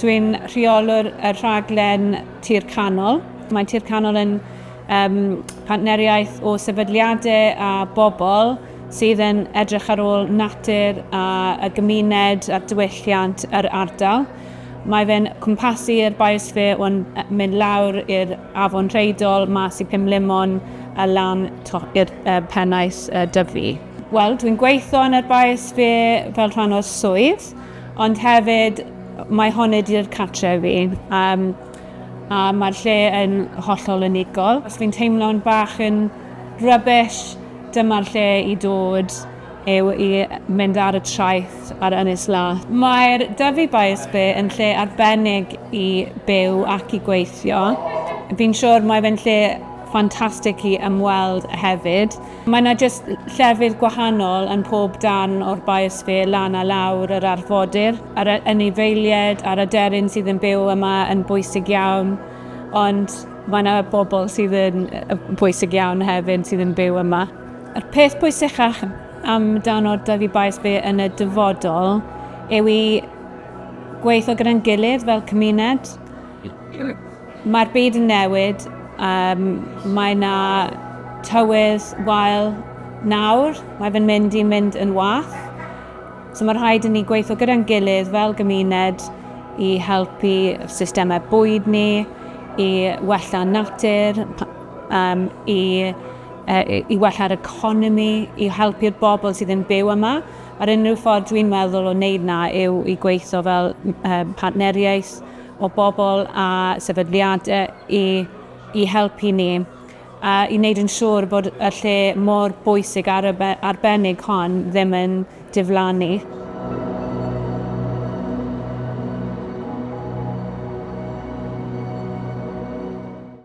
Dwi'n rheolwr y rhaglen Tir Canol. Mae Tir Canol yn um, partneriaeth o sefydliadau a bobl sydd yn edrych ar ôl natur a, a gymuned a diwylliant yr ardal. Mae fe'n cwmpasu'r biosphere o'n mynd lawr i'r afon Rheidol, mas i Pum Limon a lan i'r uh, pennaeth uh, dyfu. Wel, dwi'n gweithio yn yr biosphere fel rhan o'r swydd. Ond hefyd, mae hon wedi i'r cartref fi, um, a mae'r lle yn hollol unigol. Os fi'n teimlo'n bach yn rubbish, dyma'r lle i dod yw i mynd ar y traeth ar Ynys Lath. Mae'r Dyfi Bias Bay yn lle arbennig i byw ac i gweithio. Fi'n siŵr mae fe'n lle ffantastig i ymweld hefyd. Mae yna jyst llefydd gwahanol yn pob darn o'r biosphere lan a lawr yr arfodir. Yr anifeiliaid a'r aderyn sydd yn byw yma yn bwysig iawn, ond mae yna bobl sydd yn bwysig iawn hefyd sydd yn byw yma. Yr peth pwysicach am dan o'r dyfu biosphere yn y dyfodol yw i gweithio gyda'n gilydd fel cymuned. Mae'r byd yn newid, um, mae na tywydd wael nawr, mae fe'n mynd i'n mynd yn wach. So mae rhaid i ni gweithio gyda'n gilydd fel gymuned i helpu systemau bwyd ni, i wella natur, um, i, uh, i wella'r economi, i helpu'r bobl sydd yn byw yma. A'r unrhyw ffordd dwi'n meddwl o wneud na yw i gweithio fel uh, partneriaeth o bobl a sefydliadau i, i helpu ni a i wneud yn siŵr bod y lle mor bwysig ar y arbennig hon ddim yn diflannu.